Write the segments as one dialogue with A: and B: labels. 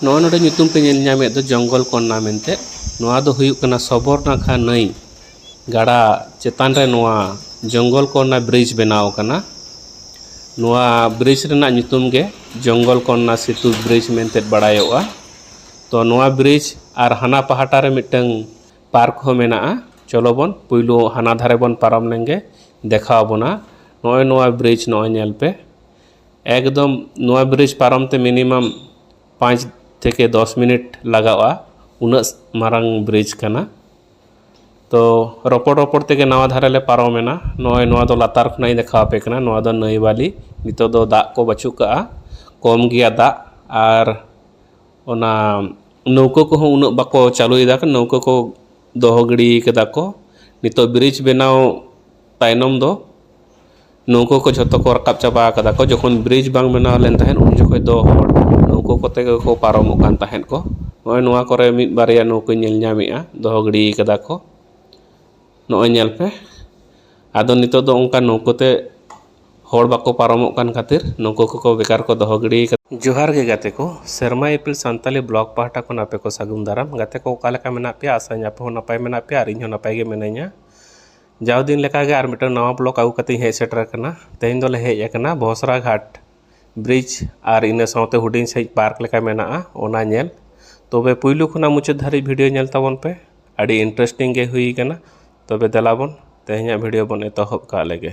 A: ᱱᱚᱣᱟ ᱱᱚᱰᱮ ᱧᱩᱛᱩᱢ ᱯᱮ ᱧᱮᱞ ᱧᱟᱢᱮᱫ ᱫᱚ ᱡᱚᱝᱜᱚᱞ ᱠᱚᱱᱱᱟ ᱢᱮᱱᱛᱮ ᱱᱚᱣᱟ ᱫᱚ ᱦᱩᱭᱩᱜ ᱠᱟᱱᱟ ᱥᱚᱵᱚᱨᱱᱟᱠᱷᱟ ᱱᱟᱹᱭ ᱜᱟᱰᱟ ᱪᱮᱛᱟᱱ ᱨᱮ ᱱᱚᱣᱟ ᱡᱚᱝᱜᱚᱞ ᱠᱚᱱᱱᱟ ᱵᱨᱤᱡᱽ ᱵᱮᱱᱟᱣ ᱟᱠᱟᱱᱟ ᱱᱚᱣᱟ ᱵᱨᱤᱡᱽ ᱨᱮᱱᱟᱜ ᱧᱩᱛᱩᱢ ᱜᱮ ᱡᱚᱝᱜᱚᱞ ᱠᱚᱱᱱᱟ ᱥᱮᱛᱩ ᱵᱨᱤᱡᱽ ᱢᱮᱱᱛᱮ ᱵᱟᱲᱟᱭᱚᱜᱼᱟ ᱛᱚ ᱱᱚᱣᱟ ᱵᱨᱤᱡᱽ ᱟᱨ ᱦᱟᱱᱟ ᱯᱟᱦᱴᱟ ᱨᱮ ᱢᱤᱫᱴᱟᱝ ᱯᱟᱨᱠ ᱦᱚᱸ ᱢᱮᱱᱟᱜᱼᱟ ᱪᱚᱞᱚ ᱵᱚᱱ ᱯᱳᱭᱞᱳ ᱦᱟᱱᱟ ᱫᱷᱟᱨᱮ ᱵᱚᱱ ᱯᱟᱨᱚᱢ ᱞᱮᱱᱜᱮ ᱫᱮᱠᱷᱟᱣ ᱵᱚᱱᱟ ᱱᱚᱜᱼᱚᱭ ᱱᱚᱣᱟ ᱵᱨᱤᱡᱽ ᱱᱚᱜᱼᱚᱭ ᱧᱮᱞ ᱯᱮ ᱮᱠᱫᱚᱢ ᱱᱚᱣᱟ ᱵᱨᱤᱡᱽ ᱯᱟᱨᱚᱢ ᱛᱮ ᱢᱤᱱᱤᱢᱟᱢ ᱯᱟᱸᱪ ᱛᱷᱮᱠᱮ ᱫᱚᱥ ᱢᱤᱱᱤᱴ ᱞᱟᱜᱟᱜᱼᱟ ᱩᱱᱟᱹᱜ ᱢᱟᱨᱟᱝ ᱵᱨᱤᱡᱽ ᱠᱟᱱᱟ ᱛᱚ ᱨᱚᱯᱚᱲ ᱨᱚᱯᱚᱲ ᱛᱮᱜᱮ ᱱᱟᱣᱟ ᱫᱷᱟᱨᱮ ᱞᱮ ᱯᱟᱨᱚᱢᱮᱱᱟ ᱱᱚᱜᱼᱚᱸᱭ ᱱᱚᱣᱟ ᱫᱚ ᱞᱟᱛᱟᱨ ᱠᱷᱚᱱᱟᱜ ᱤᱧ ᱫᱮᱠᱷᱟᱣ ᱟᱯᱮ ᱠᱟᱱᱟ ᱱᱚᱣᱟ ᱫᱚ ᱱᱟᱹᱭ ᱵᱟᱹᱞᱤ ᱱᱤᱛᱚᱜ ᱫᱚ ᱫᱟᱜ ᱠᱚ ᱵᱟᱹᱪᱩᱜ ᱠᱟᱜᱼᱟ ᱠᱚᱢ ᱜᱮᱭᱟ ᱫᱟᱜ ᱟᱨ ᱚᱱᱟ ᱱᱟᱹᱣᱠᱟᱹ ᱠᱚᱦᱚᱸ ᱩᱱᱟᱹᱜ ᱵᱟᱠᱚ ᱪᱟᱹᱞᱩᱭᱮᱫᱟ ᱱᱟᱹᱣᱠᱟᱹ ᱠᱚ ᱫᱚᱦᱚ ᱜᱤᱲᱤᱭ ᱠᱟᱫᱟ ᱠᱚ ᱱᱤᱛᱚᱜ ᱵᱨᱤᱡᱽ ᱵᱮᱱᱟᱣ ᱛᱟᱭᱱᱚᱢ ᱫᱚ ᱱᱟᱹᱣᱠᱟᱹ ᱠᱚ ᱡᱷᱚᱛᱚ ᱠᱚ ᱨᱟᱠᱟᱵ ᱪᱟᱵᱟ ᱠᱟᱫᱟ ᱠᱚ ᱡᱚᱠᱷᱚᱱ ᱵᱨᱤᱡᱽ ᱵᱟᱝ ᱵᱮᱱᱟᱣ ᱞᱮᱱ ᱛᱟᱦᱮᱸᱫ ᱩᱱ ᱡᱚᱠᱷᱚᱱ ᱫᱚ ᱦᱚᱲ ᱱᱟᱹᱣᱠᱟᱹ ᱠᱚᱛᱮ ᱜᱮᱠᱚ ᱯᱟᱨᱚᱢᱚᱜ ᱠᱟᱱ ᱛᱟᱦᱮᱸᱫ ᱠᱚ ᱱᱚᱜᱼᱚᱭ ᱱᱚᱣᱟ ᱠᱚᱨᱮ ᱢᱤᱫ ᱵᱟᱨᱭᱟ ᱱᱟᱹᱣᱠᱟᱹᱧ ᱧᱮᱞ ᱧᱟᱢᱮᱜᱼᱟ ᱫᱚᱦᱚ ᱜᱤᱰᱤ ᱠᱟᱫᱟ ᱠᱚ ᱱᱚᱜᱼᱚᱭ ᱧᱮᱞ ᱯᱮ ᱟᱫᱚ ᱱᱤᱛᱚᱜ ᱫᱚ ᱚᱱᱠᱟ ᱱᱟᱹᱣᱠᱟᱹ ᱛᱮ ᱦᱚᱲ ᱵᱟᱠᱚ ᱯᱟᱨᱚᱢᱚᱜ ᱠᱟᱱ ᱠᱷᱟᱹᱛᱤᱨ ᱱᱟᱹᱣᱠᱟᱹ ᱠᱚᱠᱚ ᱵᱮᱠᱟᱨ ᱠᱚ ᱫᱚᱦᱚ ᱜᱤᱰᱤ ᱠᱟᱫᱟ ᱡᱚᱦᱟᱨ ᱜᱮ ᱜᱟᱛᱮ ᱠᱚ ᱥᱮᱨᱢᱟ ᱤᱯᱤᱞ ᱥᱟᱱᱛᱟᱲᱤ ᱵᱞᱚᱜᱽ ᱯᱟᱦᱴᱟ ᱠᱷᱚᱱ ᱟᱯᱮ ᱠᱚ ᱥᱟᱹᱜᱩᱱ ᱫᱟᱨᱟᱢ ᱜᱟᱛᱮ ᱠᱚ ᱚᱠᱟ ᱞᱮᱠᱟ ᱢᱮᱱᱟᱜ ᱯᱮᱭᱟ ᱟᱥᱟᱭᱟᱹᱧ ᱟᱯᱮ ᱦᱚᱸ ᱱᱟᱯᱟᱭ ᱢᱮᱱᱟᱜ ᱯᱮᱭᱟ ᱟᱨ ᱤᱧ ᱦᱚᱸ ᱱᱟᱯᱟᱭ ᱜᱮ ᱢᱤᱱᱟᱹᱧᱟ ᱡᱟᱣ ᱫᱤᱱ ᱞᱮᱠᱟ ᱜᱮ ᱟᱨ ᱢᱤᱫᱴᱟᱝ ᱱᱟᱣᱟ ᱵᱞᱚᱜᱽ ᱟᱹᱜᱩ ᱠᱟᱛᱮᱫ ᱤᱧ ᱦᱮᱡ ᱥᱮᱴᱮᱨ ᱟᱠᱟᱱᱟ ᱛᱮᱦᱮᱧ ᱫᱚᱞᱮ ᱦᱮᱡ ᱟᱠᱟᱱᱟ ᱵᱚᱥᱨᱟ ᱜᱷᱟᱴ ᱵᱨᱤᱡᱽ ᱟᱨ ᱤᱱᱟᱹ ᱥᱟᱶᱛᱮ ᱦᱩᱰᱤᱧ ᱥᱟᱺᱦᱤᱡ ᱯᱟᱨᱠ ᱞᱮᱠᱟ ᱢᱮᱱᱟᱜᱼᱟ ᱚᱱᱟ ᱧᱮᱞ ᱛᱚᱵᱮ ᱯᱩᱭᱞᱩ ᱠᱷᱚᱱᱟᱜ ᱢᱩᱪᱟᱹᱫ ᱫᱷᱟᱹᱨᱤᱡ ᱵᱷᱤᱰᱭᱳ ᱧᱮᱞ ᱛᱟᱵᱚᱱ ᱯᱮ ᱟᱹᱰᱤ ᱤᱱᱴᱟᱨᱮᱥᱴᱤᱝ ᱜᱮ ᱦᱩᱭ ᱠᱟᱱᱟ ᱛᱚᱵᱮ ᱫᱮᱞᱟ ᱵᱚᱱ ᱛᱮᱦᱮᱧᱟᱜ ᱵᱷᱤᱰᱭᱳ ᱵᱚᱱ ᱮᱛᱚᱦᱚᱵ ᱠᱟᱜ ᱞᱮᱜᱮ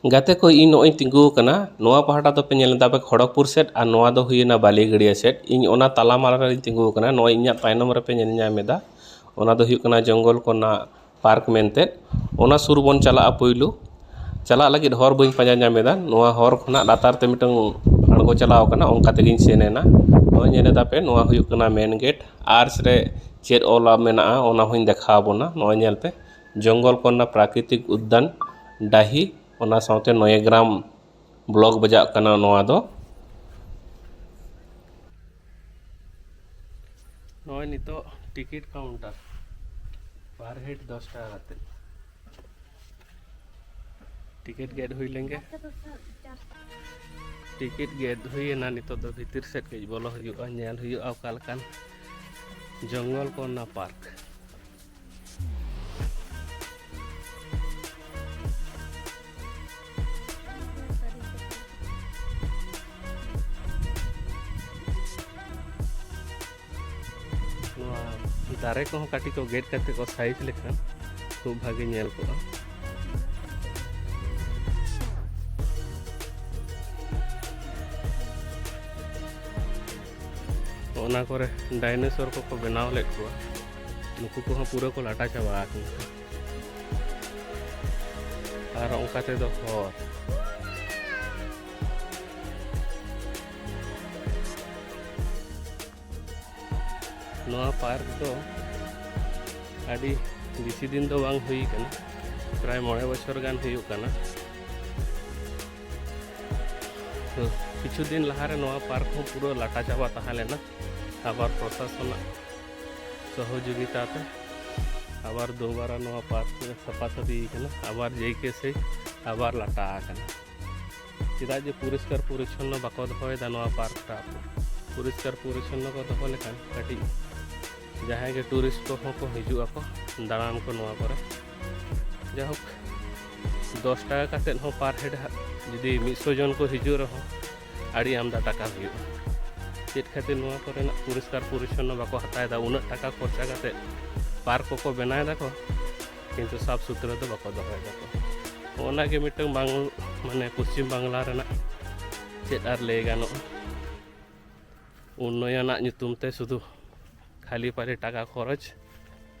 A: ᱜᱟᱛᱮ ᱠᱚ ᱤᱧ ᱱᱚᱜᱼᱚᱭ ᱤᱧ ᱛᱤᱸᱜᱩ ᱟᱠᱟᱱᱟ ᱱᱚᱣᱟ ᱯᱟᱦᱴᱟ ᱫᱚᱯᱮ ᱧᱮᱞ ᱮᱫᱟ ᱟᱯᱮ ᱠᱷᱚᱲᱚᱜᱽᱯᱩᱨ ᱥᱮᱫ ᱟᱨ ᱱᱚᱣᱟ ᱫᱚ ᱦᱩᱭᱮᱱᱟ ᱵᱟᱹᱞᱤ ᱜᱟᱹᱲᱭᱟᱹ ᱥᱮᱫ ᱤᱧ ᱚᱱᱟ ᱛᱟᱞᱟ ᱢᱟᱞᱟ ᱨᱮᱜᱮᱧ ᱛᱤᱸᱜᱩ ᱟᱠᱟᱱᱟ ᱱᱚᱜᱼᱚᱭ ᱤᱧᱟᱹᱜ ᱛᱟᱭᱱᱚᱢ ᱨᱮᱯᱮ ᱧᱮᱞ ᱧᱟᱢ ᱮᱫᱟ ᱚᱱᱟ ᱫᱚ ᱦᱩᱭᱩᱜ ᱠᱟᱱᱟ ᱡᱚᱝᱜᱚᱞ ᱠᱚ ᱨᱮᱱᱟᱜ ᱯᱟᱨᱠ ᱢᱮᱱᱛᱮ ᱚᱱᱟ ᱥᱩᱨ ᱵᱚᱱ ᱪᱟᱞᱟᱜᱼᱟ ᱯᱳᱭᱞᱳ ᱪᱟᱞᱟᱜ ᱞᱟᱹᱜᱤᱫ ᱦᱚᱨ ᱵᱟᱹᱧ ᱯᱟᱸᱡᱟ ᱧᱟᱢ ᱮᱫᱟ ᱱᱚᱣᱟ ᱦᱚᱨ ᱠᱷᱚᱱᱟᱜ ᱞᱟᱛᱟᱨ ᱛᱮ ᱢᱤᱫᱴᱟᱹᱝ ᱟᱬᱜᱚ ᱪᱟᱞᱟᱣ ᱟᱠᱟᱱᱟ ᱚᱱᱠᱟ ᱛᱮᱜᱮᱧ ᱥᱮᱱ ᱮᱱᱟ ᱱᱚᱜᱼᱚᱭ ᱧᱮᱞ ᱮᱫᱟ ᱯᱮ ᱱᱚᱣᱟ ᱦᱩᱭᱩᱜ ᱠᱟᱱᱟ ᱢᱮᱱ ᱜᱮᱹᱴ ᱟᱨᱪ ᱨᱮ ᱪᱮᱫ ᱚᱞ ᱢᱮᱱᱟᱜᱼᱟ ᱚᱱᱟ ᱦᱚᱸᱧ ᱫᱮᱠᱷᱟᱣ ᱟᱵᱚᱱᱟ ᱱᱚᱜᱼᱚᱭ ᱧᱮᱞ ᱯᱮ ᱡᱚᱝᱜᱚᱞ ᱠᱚ ᱨᱮᱱᱟᱜ ᱯᱨᱟᱠᱨᱤᱛᱤᱠ ᱩᱫᱽᱫᱟᱱ ᱰᱟᱹᱦᱤ ᱚᱱᱟ ᱥᱟᱶᱛᱮ ᱱᱚᱭᱟᱜᱨᱟᱢ ᱵᱞᱚᱠ ᱵᱟᱡᱟᱜ ᱠᱟᱱᱟ ᱱᱚᱣᱟ ᱫᱚ ᱱᱚᱜᱼᱚᱭ ᱱᱤᱛᱚᱜ ᱴᱤᱠᱤᱴ ᱠᱟᱣᱩᱱᱴᱟᱨ ᱯᱟᱨ ᱦᱮᱰ ᱫᱚᱥ ᱴᱟᱠᱟ ᱠᱟᱛᱮᱫ ᱴᱤᱠᱤᱴ ᱜᱮᱫ ᱦᱩᱭ ᱞᱮᱱᱜᱮ ᱴᱤᱠᱤᱴ ᱜᱮᱫ ᱦᱩᱭᱮᱱᱟ ᱱᱤᱛᱚᱜ ᱫᱚ ᱵᱷᱤᱛᱤᱨ ᱥᱮᱫ ᱠᱟᱹᱡ ᱵᱚᱞᱚ ᱦᱩᱭᱩᱜᱼᱟ ᱧᱮᱞ ᱦᱩᱭᱩᱜᱼᱟ ᱚᱠᱟ ᱞᱮᱠᱟᱱ ᱡᱚᱝᱜᱚᱞ ᱠᱚ ᱨᱮᱱᱟᱜ ᱯᱟᱨᱠ ᱫᱟᱨᱮ ᱠᱚᱦᱚᱸ ᱠᱟᱹᱴᱤᱡ ᱠᱚ ᱜᱮᱫ ᱠᱟᱛᱮ ᱠᱚ ᱥᱟᱭᱤᱡᱽ ᱞᱮᱠᱷᱟᱱ ᱠᱷᱩᱵ ᱵᱷᱟᱜᱮ ᱧᱮᱞ ᱠᱚᱜᱼᱟ ᱚᱱᱟ ᱠᱚᱨᱮ ᱰᱟᱭᱱᱮᱥᱚᱨ ᱠᱚᱠᱚ ᱵᱮᱱᱟᱣ ᱞᱮᱫ ᱠᱚᱣᱟ ᱱᱩᱠᱩ ᱠᱚᱦᱚᱸ ᱯᱩᱨᱟᱹ ᱠᱚ ᱞᱟᱴᱟ ᱪᱟᱵᱟ ᱟᱠᱟᱱᱟ ᱟᱨ ᱚᱱᱠᱟ ᱛᱮᱫᱚ ᱦᱚᱨ ᱱᱚᱣᱟ ᱯᱟᱨᱠ ᱫᱚ ᱟᱹᱰᱤ ᱵᱮᱥᱤ ᱫᱤᱱ ᱫᱚ ᱵᱟᱝ ᱦᱩᱭ ᱠᱟᱱᱟ ᱯᱨᱟᱭ ᱢᱚᱬᱮ ᱵᱚᱪᱷᱚᱨ ᱜᱟᱱ ᱦᱩᱭᱩᱜ ᱠᱟᱱᱟ ᱛᱚ ᱠᱤᱪᱷᱩ ᱫᱤᱱ ᱞᱟᱦᱟᱨᱮ ᱱᱚᱣᱟ ᱯᱟᱨᱠ ᱦᱚᱸ ᱯᱩᱨᱟᱹ ᱞᱟᱴᱟ ᱪᱟᱵᱟ ᱛᱟᱦᱮᱸ ᱞᱮᱱᱟ ᱟᱵᱟᱨ ᱯᱨᱚᱥᱟᱥᱚᱱᱟᱜ ᱥᱚᱦᱚᱡᱳᱜᱤᱛᱟ ᱛᱮ ᱟᱵᱟᱨ ᱫᱩᱵᱟᱨᱟ ᱱᱚᱣᱟ ᱯᱟᱨᱠ ᱥᱟᱯᱷᱟ ᱥᱟᱹᱯᱷᱤ ᱠᱟᱱᱟ ᱟᱵᱟᱨ ᱡᱮᱭᱠᱮ ᱥᱮ ᱟᱵᱟᱨ ᱞᱟᱴᱟ ᱟᱠᱟᱱᱟ ᱪᱮᱫᱟᱜ ᱡᱮ ᱯᱚᱨᱤষ্কার ᱯᱚᱨᱤᱪᱷᱚᱱᱱᱚ ᱵᱟᱠᱚ ᱫᱚᱦᱚᱭᱮᱫᱟ ᱱᱚᱣᱟ ᱯᱟᱨᱠᱴᱟ ᱯᱚᱨᱤষ্কার ᱯᱚᱨᱤᱪᱷᱚᱱᱱᱚ ᱠᱚ ᱫᱚᱦᱚ ᱞᱮᱠᱷᱟᱱ ᱠᱟᱹᱴᱤᱡ ᱡᱟᱦᱟᱸᱭ ᱜᱮ ᱴᱩᱨᱤᱥᱴ ᱠᱚᱦᱚᱸ ᱠᱚ ᱦᱤᱡᱩᱜ ᱟᱠᱚ ᱫᱟᱬᱟᱱ ᱠᱚ ᱱᱚᱣᱟ ᱠᱚᱨᱮ ᱡᱟᱭᱦᱳᱠ ᱫᱚᱥ ᱴᱟᱠᱟ ᱠᱟᱛᱮᱫ ᱦᱚᱸ ᱯᱟᱨ ᱦᱮᱰ ᱡᱩᱫᱤ ᱢᱤᱫᱥᱚ ᱡᱚᱱ ᱠᱚ ᱦᱤᱡᱩᱜ ᱨᱮᱦᱚᱸ ᱟᱹᱰᱤ ᱟᱢᱫᱟ ᱴᱟᱠᱟ ᱦᱩᱭᱩᱜᱼᱟ ᱪᱮᱫ ᱠᱷᱟᱹᱛᱤᱨ ᱱᱚᱣᱟ ᱠᱚᱨᱮᱱᱟᱜ ᱯᱚᱨᱤᱥᱠᱟᱨ ᱯᱚᱨᱤᱪᱷᱚᱱᱱᱚ ᱵᱟᱠᱚ ᱦᱟᱛᱟᱣᱮᱫᱟ ᱩᱱᱟᱹᱜ ᱴᱟᱠᱟ ᱠᱷᱚᱨᱪᱟ ᱠᱟᱛᱮᱫ ᱯᱟᱨᱠ ᱠᱚᱠᱚ ᱵᱮᱱᱟᱣ ᱫᱟᱠᱚ ᱠᱤᱱᱛᱩ ᱥᱟᱯ ᱥᱩᱛᱨᱟᱹ ᱫᱚ ᱵᱟᱠᱚ ᱫᱚᱦᱚᱭ ᱫᱟᱠᱚ ᱚᱱᱟᱜᱮ ᱢᱤᱫᱴᱟᱝ ᱵᱟᱝ ᱢᱟᱱᱮ ᱯᱚᱥᱪᱤᱢ ᱵᱟᱝᱞᱟ ᱨᱮᱱᱟᱜ ᱪᱮᱫ ᱟᱨ ᱞᱟᱹᱭ ᱜᱟᱱᱚᱜᱼᱟ ᱩᱱᱱᱚᱭᱚᱱᱟᱜ ᱧᱩᱛᱩᱢ ᱛᱮ ᱥᱩᱫᱷᱩ ᱠᱷᱟᱹᱞᱤ ᱯᱟᱨᱮ ᱴᱟᱠᱟ ᱠᱷᱚᱨᱚᱪ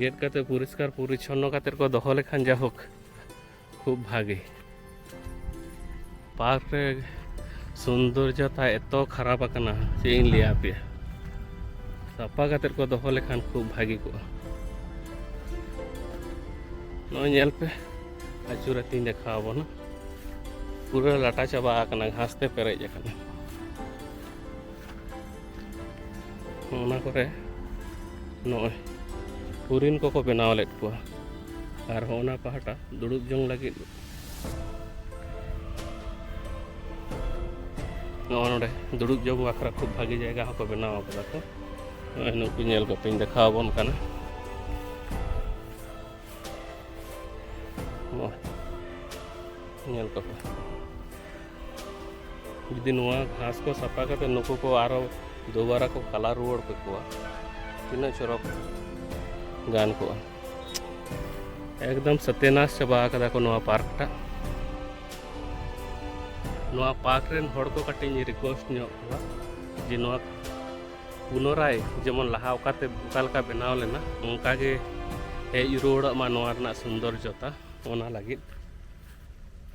A: ᱜᱮᱫ ᱠᱟᱛᱮ ᱯᱚᱨᱤᱥᱠᱟᱨ ᱯᱚᱨᱤᱪᱷᱚᱱᱱᱚ ᱠᱟᱛᱮ ᱠᱚ ᱫᱚᱦᱚ ᱞᱮᱠᱷᱟᱱ ᱡᱟᱭᱦᱳᱠ ᱠᱷᱩᱵ ᱵᱷᱟᱜᱮ ᱯᱟᱨᱠ ᱨᱮ ᱥᱩᱱᱫᱚᱨᱡᱚᱛᱟ ᱮᱛᱚ ᱠᱷᱟᱨᱟᱯ ᱟᱠᱟᱱᱟ ᱪᱮᱫ ᱤᱧ ᱞᱟᱹᱭᱟ ᱟᱯᱮᱭᱟ ᱥᱟᱯᱟ ᱠᱟᱛᱮ ᱠᱚ ᱫᱚᱦᱚ ᱞᱮᱠᱷᱟᱱ ᱠᱷᱩᱵ ᱵᱷᱟᱜᱮ ᱠᱚᱜᱼᱟ ᱱᱚᱜᱼᱚᱭ ᱧᱮᱞ ᱯᱮ ᱟᱹᱪᱩᱨ ᱟᱹᱛᱤᱧ ᱫᱮᱠᱷᱟᱣ ᱟᱵᱚᱱᱟ ᱯᱩᱨᱟᱹ ᱞᱟᱴᱟ ᱪᱟᱵᱟ ᱟᱠᱟᱱᱟ ᱜᱷᱟᱥ ᱛᱮ ᱯᱮᱨᱮᱡ ᱟᱠᱟᱱᱟ ᱚᱱᱟ ᱠᱚᱨᱮ ᱱᱚᱜᱼᱚᱭ ᱦᱚᱨᱤᱱ ᱠᱚᱠᱚ ᱵᱮᱱᱟᱣ ᱞᱮᱫ ᱠᱚᱣᱟ ᱟᱨ ᱦᱚᱸ ᱚᱱᱟ ᱯᱟᱦᱴᱟ ᱫᱩᱲᱩᱵ ᱡᱚᱝ ᱞᱟᱹᱜᱤᱫ ᱱᱚᱜᱼᱚ ᱱᱚᱰᱮ ᱫᱩᱲᱩᱵ ᱡᱚᱝ ᱵᱟᱠᱷᱨᱟ ᱠᱷᱩᱵ ᱵᱷᱟᱜᱮ ᱡᱟᱭᱜᱟ ᱦᱚᱸᱠᱚ ᱵᱮᱱᱟᱣ ᱟᱠᱟᱫᱟ ᱠᱚ ᱱᱚᱜᱼᱚᱭ ᱱᱩᱠᱩ ᱧᱮᱞ ᱠᱟᱛᱮᱧ ᱫᱮᱠᱷᱟᱣ ᱟᱵᱚᱱ ᱠᱟᱱᱟ ᱧᱮᱞ ᱠᱚᱯᱮ ᱡᱩᱫᱤ ᱱᱚᱣᱟ ᱜᱷᱟᱥ ᱠᱚ ᱥᱟᱯᱷᱟ ᱠᱟᱛᱮ ᱱᱩᱠᱩ ᱠᱚ ᱟᱨᱚ ᱫᱩᱵᱟᱨᱟ ᱠᱚ ᱠᱟᱞᱟ ᱨᱩᱣᱟᱹᱲ ᱠᱮᱠᱚᱣᱟ ᱛᱤᱱᱟᱹᱜ ᱪᱚᱨᱚᱠ ᱜᱟᱱ ᱠᱚᱜᱼᱟ ᱮᱠᱫᱚᱢ ᱥᱚᱛᱮᱱᱟᱥ ᱪᱟᱵᱟ ᱟᱠᱟᱫᱟ ᱠᱚ ᱱᱚᱣᱟ ᱯᱟᱨᱠᱴᱟᱜ ᱱᱚᱣᱟ ᱯᱟᱨᱠ ᱨᱮᱱ ᱦᱚᱲ ᱠᱚ ᱠᱟᱹᱴᱤᱡ ᱤᱧ ᱨᱤᱠᱣᱮᱥᱴ ᱧᱚᱜ ᱠᱚᱣᱟ ᱡᱮ ᱱᱚᱣᱟ ᱯᱩᱱᱚᱨᱟᱭ ᱡᱮᱢᱚᱱ ᱞᱟᱦᱟ ᱚᱠᱟᱛᱮ ᱚᱠᱟ ᱞᱮᱠᱟ ᱵᱮᱱᱟᱣ ᱞᱮᱱᱟ ᱚᱱᱠᱟ ᱜᱮ ᱦᱮᱡ ᱨᱩᱣᱟᱹᱲᱚᱜ ᱢᱟ ᱱᱚᱣᱟ ᱨᱮᱱᱟᱜ ᱥᱩᱱᱫᱚᱨᱡᱚᱛᱟ ᱚᱱᱟ ᱞᱟᱹᱜᱤᱫ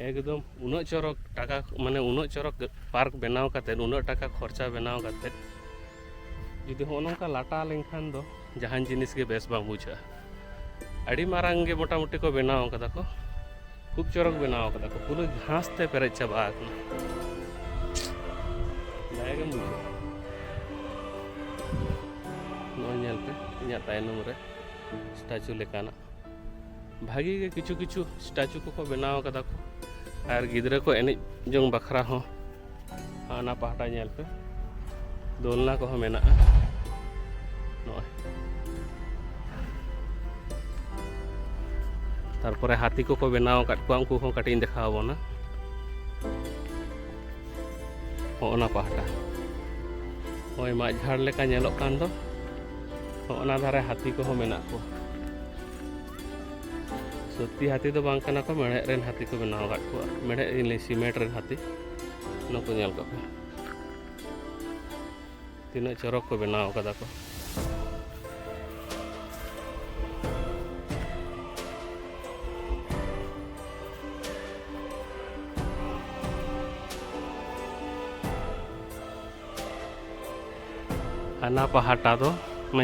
A: ᱮᱠᱫᱚᱢ ᱩᱱᱟᱹᱜ ᱪᱚᱨᱚᱠ ᱴᱟᱠᱟ ᱢᱟᱱᱮ ᱩᱱᱟᱹᱜ ᱪᱚᱨᱚᱠ ᱯᱟᱨᱠ ᱵᱮᱱᱟᱣ ᱠᱟᱛᱮ ᱩᱱᱟᱹᱜ ᱴᱟᱠᱟ ᱠᱷᱚᱨᱪᱟ ᱵᱮᱱᱟᱣ ᱠᱟᱛᱮ ᱡᱩᱫᱤ ᱦᱚᱸᱜᱼᱚ ᱱᱚᱝᱠᱟ ᱞᱟᱴᱟ ᱞᱮᱱᱠᱷᱟᱱ ᱫᱚ ᱡᱟᱦᱟᱱ ᱡᱤᱱᱤᱥ ᱜᱮ ᱵᱮᱥ ᱵᱟᱝ ᱵᱩᱡᱷᱟᱹᱜᱼᱟ ᱟᱹᱰᱤ ᱢᱟᱨᱟᱝ ᱜᱮ ᱢᱚᱴᱟᱢᱩᱴᱤ ᱠᱚ ᱵᱮᱱᱟᱣ ᱠᱟᱫᱟ ᱠᱚ ᱠᱷᱩᱵ ᱪᱚᱨᱚᱠ ᱵᱮᱱᱟᱣ ᱠᱟᱫᱟ ᱠᱚ ᱯᱩᱨᱟᱹ ᱜᱷᱟᱥ ᱛᱮ ᱯᱮᱨᱮᱡ ᱪᱟᱵᱟ ᱟᱠᱟᱱᱟ ᱫᱟᱭᱟ ᱜᱮᱢ ᱵᱩᱡᱷᱟᱹᱣᱟ ᱱᱚᱜᱼᱚᱭ ᱧᱮᱞ ᱯᱮ ᱤᱧᱟᱹᱜ ᱛᱟᱭᱱᱚᱢ ᱨᱮ ᱥᱴᱟᱪᱩ ᱞᱮᱠᱟᱱᱟᱜ ᱵᱷᱟᱜᱤ ᱜᱮ ᱠᱤᱪᱷᱩ ᱠᱤᱪᱷᱩ ᱥᱴᱟᱪᱩ ᱠᱚᱠᱚ ᱵᱮᱱᱟᱣ ᱠᱟᱫᱟ ᱠᱚ ᱟᱨ ᱜᱤᱫᱽᱨᱟᱹ ᱠᱚ ᱮᱱᱮᱡ ᱡᱚᱝ ᱵᱟᱠᱷᱨᱟ ᱦᱚᱸ ᱦᱟᱱᱟ ᱯᱟᱦᱴᱟ ᱧᱮᱞ ᱯᱮ ᱫᱳᱞᱱᱟ ᱠᱚᱦᱚᱸ ᱢᱮᱱᱟᱜᱼᱟ ᱱᱚᱜᱼᱚᱭ ᱛᱟᱨᱯᱚᱨᱮ ᱦᱟᱹᱛᱤ ᱠᱚᱠᱚ ᱵᱮᱱᱟᱣ ᱟᱠᱟᱫ ᱠᱚᱣᱟ ᱩᱱᱠᱩ ᱦᱚᱸ ᱠᱟᱹᱴᱤᱡ ᱤᱧ ᱫᱮᱠᱷᱟᱣ ᱟᱵᱚᱱᱟ ᱦᱚᱸᱜᱼᱚᱱᱟ ᱯᱟᱦᱴᱟ ᱦᱳᱭ ᱢᱟᱜ ᱡᱷᱟᱲ ᱞᱮᱠᱟ ᱧᱮᱞᱚᱜ ᱠᱟᱱ ᱫᱚ ᱦᱚᱸᱜᱼᱚᱱᱟ ᱫᱷᱟᱨᱮ ᱦᱟᱹᱛᱤ ᱠᱚᱦᱚᱸ ᱢᱮᱱᱟᱜ ᱠᱚᱣᱟ ᱥᱚᱛᱛᱤ ᱦᱟᱹᱛᱤ ᱫᱚ ᱵᱟᱝ ᱠᱟᱱᱟ ᱠᱚ ᱢᱮᱲᱦᱮᱫ ᱨᱮᱱ ᱦᱟᱹᱛᱤ ᱠᱚ ᱵᱮᱱᱟᱣ ᱟᱠᱟᱫ ᱠᱚᱣᱟ ᱢᱮᱲᱦᱮᱫ ᱤᱧ ᱞᱟᱹᱭ ᱥᱤᱢᱮᱱᱴ ᱨᱮᱱ ᱦᱟᱹᱛᱤ ᱱᱩᱠᱩ ᱧᱮᱞ ᱠᱚ ᱯᱮ ᱛᱤᱱᱟᱹᱜ ᱪᱚᱨᱚᱠ ᱠᱚ ᱵᱮᱱᱟᱣ ᱟᱠᱟᱫᱟ ᱠᱚ ᱦᱟᱱᱟ ᱯᱟᱦᱴᱟ ᱫᱚ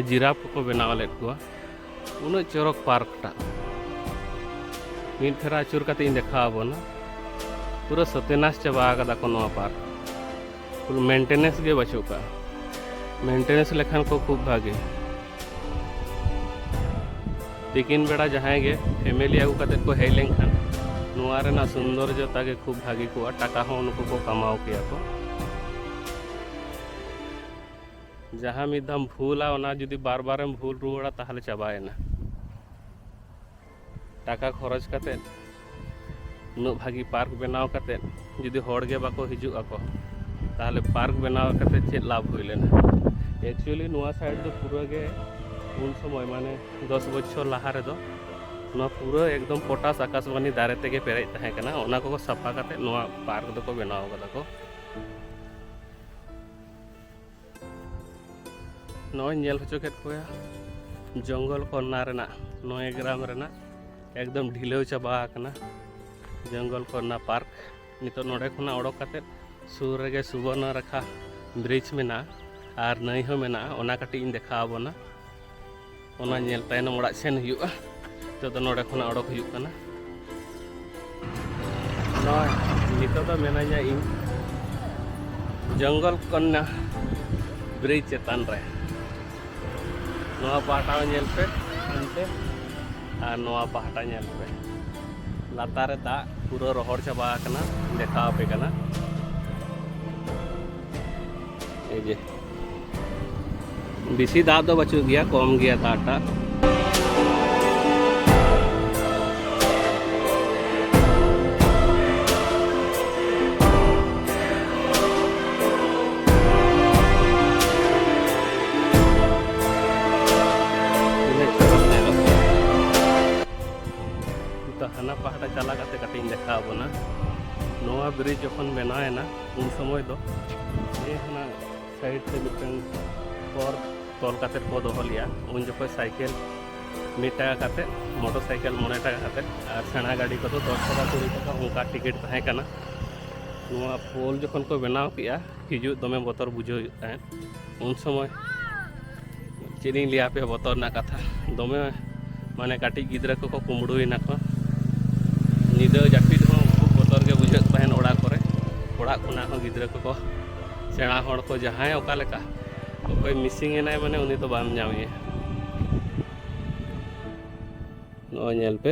A: ᱡᱤᱨᱟᱯ ᱠᱚᱠᱚ ᱵᱮᱱᱟᱣ ᱞᱮᱫ ᱠᱚᱣᱟ ᱩᱱᱟᱹᱜ ᱪᱚᱨᱚᱠ ᱯᱟᱨᱠ ᱴᱟᱜ ᱢᱤᱫ ᱯᱷᱮᱨᱟ ᱟᱹᱪᱩᱨ ᱠᱟᱛᱮ ᱤᱧ ᱫᱮᱠᱷᱟᱣ ᱟᱵᱚᱱᱟ ᱯᱩᱨᱟᱹ ᱥᱚᱛᱮᱱᱟᱥ ᱪᱟᱵᱟ ᱟᱠᱟᱫᱟ ᱠᱚ ᱱᱚᱣᱟ ᱯᱟᱨᱠ ᱯᱩᱨᱟᱹ ᱢᱮᱱᱴᱮᱱᱮᱱᱥ ᱜᱮ ᱵᱟᱹᱪᱩᱜ ᱠᱟᱜᱼᱟ ᱢᱮᱱᱴᱮᱱᱮᱱᱥ ᱞᱮᱠᱷᱟᱱ ᱠᱚ ᱠᱷᱩᱵ ᱵᱷᱟᱜᱮ ᱛᱤᱠᱤᱱ ᱵᱮᱲᱟ ᱡᱟᱦᱟᱸᱭ ᱜᱮ ᱯᱷᱮᱢᱮᱞᱤ ᱟᱹᱜᱩ ᱠᱟᱛᱮ ᱠᱚ ᱦᱮᱡ ᱞᱮᱱᱠᱷᱟᱱ ᱱᱚᱣᱟ ᱨᱮᱱᱟᱜ ᱥᱩᱱᱫᱚᱨᱡᱚᱛᱟ ᱜᱮ ᱠᱷᱩᱵ ᱵᱷᱟᱜᱮ ᱠᱚᱜᱼᱟ ᱴᱟᱠᱟ ᱦᱚᱸ ᱩᱱᱠᱩ ᱠᱚ ᱠᱟᱢᱟᱣ ᱠᱮᱭᱟ ᱠᱚ ᱡᱟᱦᱟᱸ ᱢᱤᱫ ᱫᱷᱟᱣ ᱵᱷᱩᱞᱟ ᱚᱱᱟ ᱡᱩᱫᱤ ᱵᱟᱨ ᱵᱟᱨᱮᱢ ᱵᱷᱩᱞ ᱨᱩᱣᱟᱹᱲᱟ ᱛᱟᱦᱚᱞᱮ ᱪᱟᱵᱟᱭᱮᱱᱟ ᱴᱟᱠᱟ ᱠᱷᱚᱨᱚᱪ ᱠᱟᱛᱮ ᱩᱱᱟᱹᱜ ᱵᱷᱟᱹᱜᱤ ᱯᱟᱨᱠ ᱵᱮᱱᱟᱣ ᱠᱟᱛᱮ ᱡᱩᱫᱤ ᱦᱚᱲ ᱜᱮ ᱵᱟᱠᱚ ᱦᱤᱡᱩᱜ ᱟᱠᱚ ᱛᱟᱦᱚᱞᱮ ᱯᱟᱨᱠ ᱵᱮᱱᱟᱣ ᱠᱟᱛᱮ ᱪᱮᱫ ᱞᱟᱵᱷ ᱦᱩᱭ ᱞᱮᱱᱟ ᱮᱠᱪᱩᱭᱮᱞᱤ ᱱᱚᱣᱟ ᱥᱟᱭᱤᱰ ᱫᱚ ᱯᱩᱨᱟᱹ ᱜᱮ ᱩᱱ ᱥᱚᱢᱚᱭ ᱢᱟᱱᱮ ᱫᱚᱥ ᱵᱚᱪᱷᱚᱨ ᱞᱟᱦᱟ ᱨᱮᱫᱚ ᱱᱚᱣᱟ ᱯᱩᱨᱟᱹ ᱮᱠᱫᱚᱢ ᱯᱚᱴᱟᱥ ᱟᱠᱟᱥᱵᱟᱱᱤ ᱫᱟᱨᱮ ᱛᱮᱜᱮ ᱯᱮᱨᱮᱡ ᱛᱟᱦᱮᱸ ᱠᱟᱱᱟ ᱚᱱᱟ ᱠᱚᱠᱚ ᱥᱟᱯᱷᱟ ᱠᱟᱛᱮ ᱱᱚᱣᱟ ᱯᱟᱨᱠ ᱫᱚᱠᱚ ᱵᱮᱱᱟᱣ ᱠᱟᱫᱟ ᱠᱚ ᱱᱚᱜᱼᱚᱭ ᱧᱮᱞ ᱦᱚᱪᱚ ᱠᱮᱫ ᱠᱚᱣᱟ ᱡᱚᱝᱜᱚᱞ ᱠᱚᱨᱱᱟ ᱨᱮᱱᱟᱜ ᱱᱚᱭ ᱜᱨᱟᱢ ᱨᱮᱱᱟᱜ ᱮᱠᱫᱚᱢ ᱰᱷᱤᱞᱟᱹᱣ ᱪᱟᱵᱟ ᱟᱠᱟᱱᱟ ᱡᱚᱝᱜᱚᱞ ᱠᱚᱨᱱᱟ ᱯᱟᱨᱠ ᱱᱤᱛᱚᱜ ᱱᱚᱰᱮ ᱠᱷᱚᱱᱟᱜ ᱚᱰᱚᱠ ᱠᱟᱛᱮᱫ ᱥᱩᱨ ᱨᱮᱜᱮ ᱥᱩᱵᱚᱨᱱᱚ ᱨᱮᱠᱷᱟ ᱵᱨᱤᱡᱽ ᱢᱮᱱᱟᱜᱼᱟ ᱟᱨ ᱱᱟᱹᱭ ᱦᱚᱸ ᱢᱮᱱᱟᱜᱼᱟ ᱚᱱᱟ ᱠᱟᱹᱴᱤᱡ ᱤᱧ ᱫᱮᱠᱷᱟᱣ ᱟᱵᱚᱱᱟ ᱚᱱᱟ ᱧᱮᱞ ᱛᱟᱭᱱᱚᱢ ᱚᱲᱟᱜ ᱥᱮᱱ ᱦᱩᱭᱩᱜᱼᱟ ᱱᱤᱛᱚᱜ ᱫᱚ ᱱᱚᱰᱮ ᱠᱷᱚᱱᱟᱜ ᱚᱰᱚᱠ ᱦᱩᱭᱩᱜ ᱠᱟᱱᱟ ᱱᱚᱣᱟ ᱱᱤᱛᱚᱜ ᱫᱚ ᱢᱮᱱᱟᱧᱟ ᱤᱧ ᱡᱚᱝᱜᱚᱞ ᱠᱚᱱᱱᱟ ᱵᱨᱤᱡᱽ ᱪᱮᱛᱟᱱ ᱨᱮ ᱱᱚᱣᱟ ᱯᱟᱦᱴᱟ ᱦᱚᱸ ᱧᱮᱞ ᱯᱮ ᱚᱱᱛᱮ ᱟᱨ ᱱᱚᱣᱟ ᱯᱟᱦᱴᱟ ᱧᱮᱞ ᱯᱮ ᱞᱟᱛᱟᱨ ᱨᱮ ᱫᱟᱜ ᱯᱩᱨᱟᱹ ᱨᱚᱦᱚᱲ ᱪᱟᱵᱟ ᱟᱠᱟᱱᱟ ᱫᱮᱠᱷᱟᱣ ᱟᱯᱮ ᱠᱟᱱᱟ ᱮ ᱡᱮ ᱵᱮᱥᱤ ᱫᱟᱜ ᱫᱚ ᱵᱟᱹᱪᱩᱜ ᱜᱮᱭᱟ ᱠᱚᱢ ᱜᱮᱭᱟ ᱫᱟᱜᱴᱟᱜ ᱦᱟᱱᱟ ᱯᱟᱦᱴᱟ ᱪᱟᱞᱟᱣ ᱠᱟᱛᱮ ᱠᱟᱹᱴᱤᱡ ᱤᱧ ᱫᱮᱠᱷᱟᱣ ᱵᱚᱱᱟ ᱱᱚᱣᱟ ᱵᱨᱤᱡᱽ ᱡᱚᱠᱷᱚᱱ ᱵᱮᱱᱟᱣᱮᱱᱟ ᱩᱱ ᱥᱚᱢᱚᱭ ᱫᱚ ᱚᱱᱟ ᱥᱟᱭᱤᱰ ᱛᱮ ᱢᱤᱫᱴᱟᱝ ᱠᱚᱨ ᱛᱚᱞ ᱠᱟᱛᱮ ᱠᱚ ᱫᱚᱦᱚ ᱞᱮᱭᱟ ᱩᱱ ᱡᱚᱠᱷᱚᱱ ᱥᱟᱭᱠᱮᱞ ᱢᱤᱫ ᱴᱟᱠᱟ ᱠᱟᱛᱮ ᱢᱚᱴᱚᱨ ᱥᱟᱭᱠᱮᱞ ᱢᱚᱬᱮ ᱴᱟᱠᱟ ᱠᱟᱛᱮ ᱟᱨ ᱥᱮᱬᱟ ᱜᱟᱹᱰᱤ ᱠᱚᱫᱚ ᱫᱚᱥ ᱴᱟᱠᱟ ᱠᱩᱲᱤ ᱴᱟᱠᱟ ᱚᱱᱠᱟ ᱴᱤᱠᱤᱴ ᱛᱟᱦᱮᱸ ᱠᱟᱱᱟ ᱱᱚᱣᱟ ᱯᱳᱞ ᱡᱚᱠᱷᱚᱱ ᱠᱚ ᱵᱮᱱᱟᱣ ᱠᱮᱜᱼᱟ ᱦᱤᱡᱩᱜ ᱫᱚᱢᱮ ᱵᱚᱛᱚᱨ ᱵᱩᱡᱷᱟᱹᱣ ᱦᱩᱭᱩᱜ ᱛᱟᱦᱮᱸᱫ ᱩᱱ ᱥᱚᱢᱚᱭ ᱪᱮᱫ ᱤᱧ ᱞᱟᱹᱭᱟ ᱟᱯᱮ ᱵᱚᱛᱚᱨ ᱨᱮᱱᱟᱜ ᱠᱟᱛᱷᱟ ᱫᱚᱢᱮ ᱢᱟᱱᱮ ᱠᱟᱹᱴᱤᱡ ᱜᱤᱫᱽᱨᱟᱹ ᱠᱚᱠᱚ ᱠᱩᱢᱵᱽᱲᱩᱭᱮᱱᱟ ᱠᱚ ᱧᱤᱫᱟᱹ ᱡᱟᱹᱯᱤᱫ ᱦᱚᱸ ᱠᱷᱩᱵ ᱵᱚᱛᱚᱨ ᱜᱮ ᱵᱩᱡᱷᱟᱹᱜ ᱛᱟᱦᱮᱱ ᱚᱲᱟᱜ ᱠᱚᱨᱮ ᱚᱲᱟᱜ ᱠᱷᱚᱱᱟᱜ ᱦᱚᱸ ᱜᱤᱫᱽᱨᱟᱹ ᱠᱚᱠᱚ ᱥᱮᱬᱟ ᱦᱚᱲ ᱠᱚ ᱡᱟᱦᱟᱸᱭ ᱚᱠᱟ ᱞᱮᱠᱟ ᱚᱠᱚᱭ ᱢᱤᱥᱤᱝ ᱮᱱᱟᱭ ᱢᱟᱱᱮ ᱩᱱᱤ ᱫᱚ ᱵᱟᱢ ᱧᱟᱢᱮᱭᱟ ᱱᱚᱜᱼᱚᱭ ᱧᱮᱞ ᱯᱮ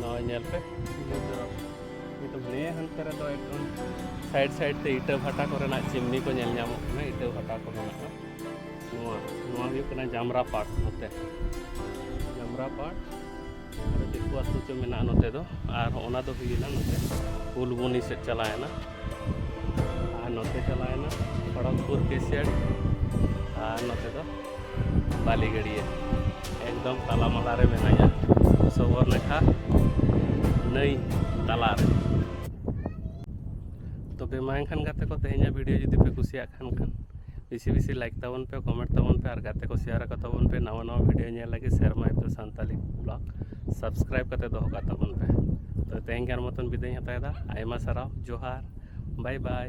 A: ᱱᱚᱜᱼᱚᱭ ᱧᱮᱞ ᱯᱮ ᱱᱤᱛᱚᱜ ᱱᱤᱭᱟᱹ ᱦᱟᱱᱛᱮ ᱨᱮᱫᱚ ᱮᱠᱫᱚᱢ ᱥᱟᱭᱤᱰ ᱥᱟᱭᱤᱰ ᱛᱮ ᱤᱴᱟᱹ ᱵᱷᱟᱴᱟ ᱠᱚᱨᱮᱱᱟᱜ ᱪᱤᱢᱱᱤ ᱠᱚ ᱧᱮᱞ ᱧᱟᱢᱚᱜ ᱠᱟᱱᱟ ᱤᱴᱟᱹ ᱵᱷᱟᱴᱟ ᱠᱚ ᱢᱮᱱᱟᱜᱼᱟ ᱱᱚᱣᱟ ᱱᱚᱣᱟ ᱦᱩᱭᱩᱜ ᱠᱟᱱᱟ ᱡᱟᱢᱨᱟ ᱯᱟᱴ ᱱᱚᱛᱮ ᱡᱟᱢᱨᱟ ᱯᱟᱴ ᱟᱨ ᱫᱤᱠᱩ ᱟᱹᱛᱩ ᱪᱚ ᱢᱮᱱᱟᱜᱼᱟ ᱱᱚᱛᱮ ᱫᱚ ᱟᱨ ᱚᱱᱟ ᱫᱚ ᱦᱩᱭᱮᱱᱟ ᱱᱚᱛᱮ ᱯᱷᱩᱞᱵᱚᱱᱤ ᱥᱮᱫ ᱪᱟᱞᱟᱣᱮᱱᱟ ᱟᱨ ᱱᱚᱛᱮ ᱪᱟᱞᱟᱣᱮᱱᱟ ᱠᱷᱚᱲᱚᱜᱽᱯᱩᱨ ᱯᱮᱥᱤᱭᱟᱲ ᱟᱨ ᱱᱚᱛᱮ ᱫᱚ ᱵᱟᱞᱤ ᱜᱟᱹᱰᱭᱟᱹ ᱮᱠᱫᱚᱢ ᱛᱟᱞᱟ ᱢᱟᱞᱟ ᱨᱮ ᱢᱮᱱᱟᱧᱟ ᱥᱚᱵᱚᱨ ᱱᱟᱠᱷᱟ ᱱᱟᱹᱭ ᱛᱟᱞᱟ ᱨᱮ ᱛᱚᱵᱮ ᱢᱟ ᱮᱱᱠᱷᱟᱱ ᱜᱟᱛᱮ ᱠᱚ ᱛᱮᱦᱮᱧᱟᱜ ᱵᱷᱤᱰᱤᱭᱳ ᱡᱩᱫᱤ ᱯᱮ ᱠᱩᱥᱤᱭᱟᱜ ᱠᱷᱟᱱ ᱠᱷᱟᱱ ᱵᱮᱥᱤ ᱵᱮᱥᱤ ᱞᱟᱭᱤᱠ ᱛᱟᱵᱚᱱ ᱯᱮ ᱠᱚᱢᱮᱱᱴ ᱛᱟᱵᱚᱱ ᱯᱮ ᱟᱨ ᱜᱟᱛᱮ ᱠᱚ ᱥᱮᱭᱟᱨ ᱟᱠᱚ ᱛᱟᱵᱚᱱ ᱯᱮ ᱱᱟᱣᱟ ᱱᱟᱣᱟ ᱵᱷᱤᱰᱤᱭᱳ ᱧᱮᱞ ᱞᱟᱹᱜᱤᱫ ᱥᱮᱨᱢᱟ ᱮᱯ ᱫᱚ ᱥᱟᱱᱛᱟᱞᱤ ᱵᱞᱚᱜ ᱥᱟᱵᱥᱠᱨᱟᱭᱤᱵ ᱠᱟᱛᱮ ᱫᱚᱦᱚ ᱠᱟᱜ ᱛᱟᱵᱚᱱ ᱯᱮ ᱛᱚ ᱛᱮᱦᱮᱧ ᱜᱟᱱ ᱢᱚᱛᱚᱱ ᱵᱤᱫᱟᱹᱭ ᱦᱟᱛᱟᱣᱮᱫᱟ ᱟᱭᱢᱟ ᱥᱟᱨᱦᱟᱣ ᱡᱚᱦᱟᱨ ᱵᱟᱭ ᱵᱟᱭ